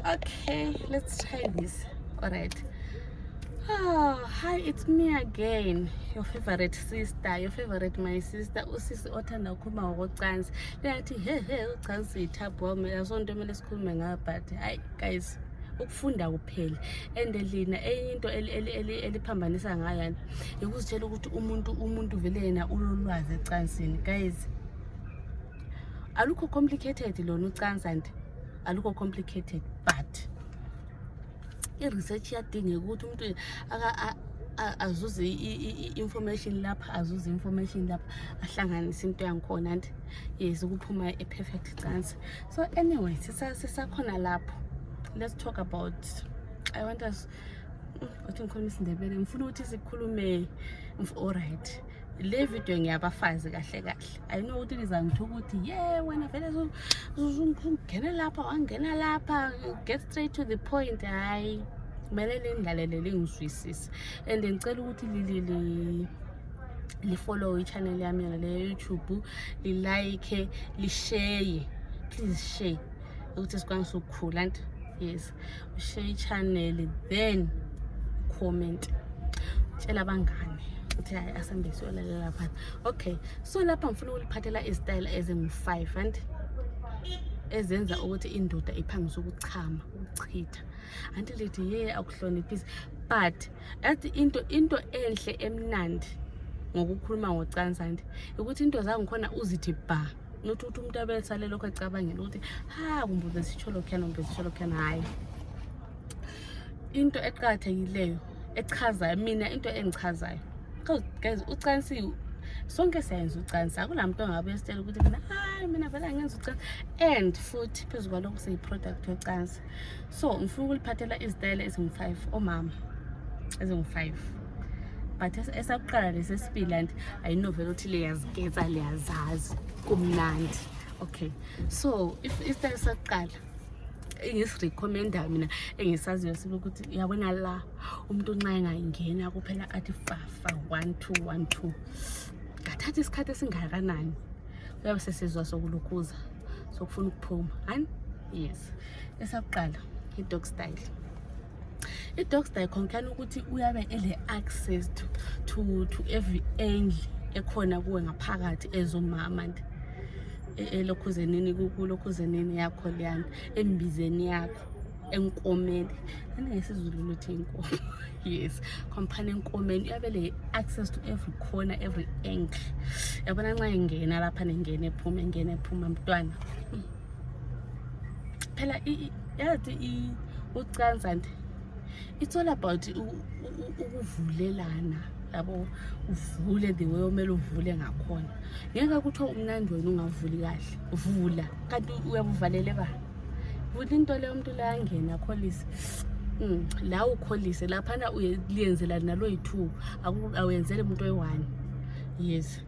okay let's try this all right Oh, hi, it's me again, your favorite sister, your favorite my sister, usisi othanda ukukhuluma ngokocansi. Liyathi he he ucansi yithaphu wami, asonto kumele sikhulume ngayo but hayi guys ukufunda kuphela and lina enye into eliphambanisa ngayo yani yikuzitshela ukuthi umuntu umuntu vele yena ulolwazi ecansini guys alukho complicated lona ucansa nje alukho complicated but i-research iyadingeka ukuthi umuntu azuze i-information lapha azuze i-information lapha ahlanganise into yangikhona nti yes ukuphuma e-perfect cancer so anyway sisakhona lapho let's talk about i want us ukuthi ngikhuluma isindebele ngifuna ukuthi sikhulume olright le video ngiyabafazi kahle kahle ayino ukuthi lizangitho ukuthi ye wena vele ungena lapha wangena lapha get straight to the point hayi kumele lindlalele lingizwisise and ngicela ukuthi lilili lifollow ichannel yami yona le youtube lilike lisheye please share ukuthi sikwanise ukukhula nto yes ushare ichannel then comment tshela abangane ukuthi hayi asambe siyolalela phansi okay so lapha ngifuna ukuliphathela izitayela ezingu-five and ezenza ukuthi indoda iphangise ukuchama ukuchitha anti lithi ye akuhloniphisi but athi into into enhle emnandi ngokukhuluma ngocansi anti ukuthi into zangikhona uzithi bha not ukuthi umuntu abe esale lokho ecabangela ukuthi ha kumbe ubesitsho lokhuyana kumbe besitsho lokhuyana hhayi into eqakathekileyo echazayo mina into engichazayo because guys ucansi sonke siyayenza ucansi akulamntu ongabe esitshela ukuthi mina hayi mina vele angenza ucansi and futhi phezu kwalokho siyi-product yocansi so ngifuna ukuliphathela izitayela ezingu-five omama ezingu-five but esakuqala lesesibili and ayinovela ukuthi liyaziketsa liyazazi kumnandi okay so if isitayela esakuqala engisirecommenda mina engisaziyo sibe ukuthi yabona la umuntu nxa engayingena kuphela athi fafa one two one two ngathatha isikhathi esingakanani uyabe sesizwa sokulukhuza sokufuna ukuphuma hani yes esakuqala i-dog style i-dogs die concern ukuthi uyabe ele-access to, to, to every angle ekhona kuwe ngaphakathi ezomama nje e, elokhuzenini kulokhuzenini yakho leyana embizeni yakho enkomeni anengesizulu luthi inkomo yes khomphana enkomeni uyabe le-access to every corner every angle yabona nxa engena lapha nengena ephuma engena ephuma mntwana hmm. phela yathi ucansa nje it's all about ukuvulelana yabo uvule the way omele uvule ngakhona ngeke kuthiwa umnandi wena ungavuli kahle vula kanti uyabuvalele ba vula into leyo umntu layangena akholise mm, la ukholise laphana uyeliyenzela nalo yi-two awuyenzeli umuntu oyi-one yes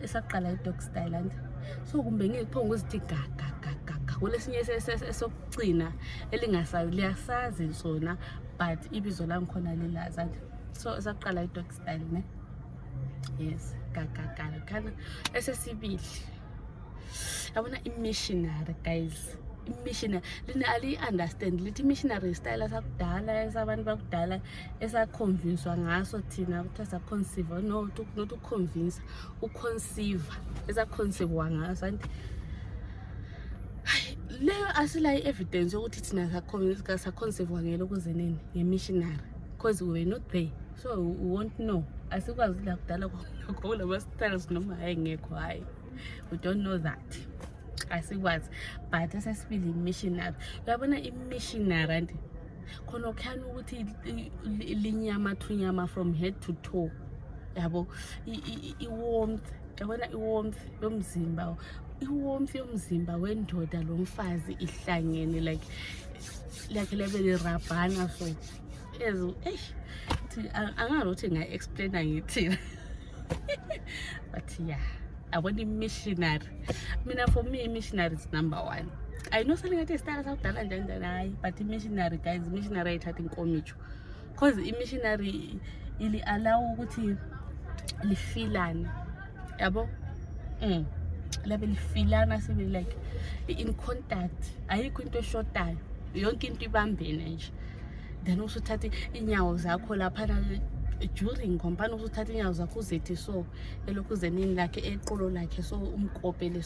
esaqala i-dog style ande so kumbe ngiphonga uzithi gagagagaga kulesinye esokugcina elingasayo liyasazi sona but ibizo langikhona lilazi ande so esaqala i-dog style ne yes gagagala khana esesibili yabona i-missionary guys imissionary lina aliyi-understand lithi imissionary style sakudala esabantu bakudala esakhomvinswa ngaso thina kuthiwa sakhonsiva no not ukhomvinsa ukhonsiva esakhonsivwa ngaso anti leyo asilayo i-evidence yokuthi thina sakhonsivwa ngelo kuzeneni ngemissionary because we were not there so we won't know asikwazi lakudala kulamasitals noma hayi ngekho hayi we don't know that asikwazi but esesibili imissionary uyabona imissionary anti khona okuhlani ukuthi linyamathunyama from head to toe yabo i-warmth yabona i-warmth yomzimba i-warmth yomzimba wendoda lo mfazi ihlangene like lakhe lebe lirabhana so ezo eish angazi ukuthi nga-explaina ngithina but ya yeah. abona i-missionary mina for me missionary is number one i know something ngathi isitara sakudala njani njani hayi but imissionary guys imissionary ayithathi inkomitsho because imissionary ili-allow ukuthi lifilane yabo mm. labe lifilana sibe like in contact ayikho into eshotayo yonke into ibambene nje then usuthathe iinyawo zakho laphana during ngombana usuthatha iinyawo zakho uzethi so elokhu zenini lakhe eqolo lakhe so umkopele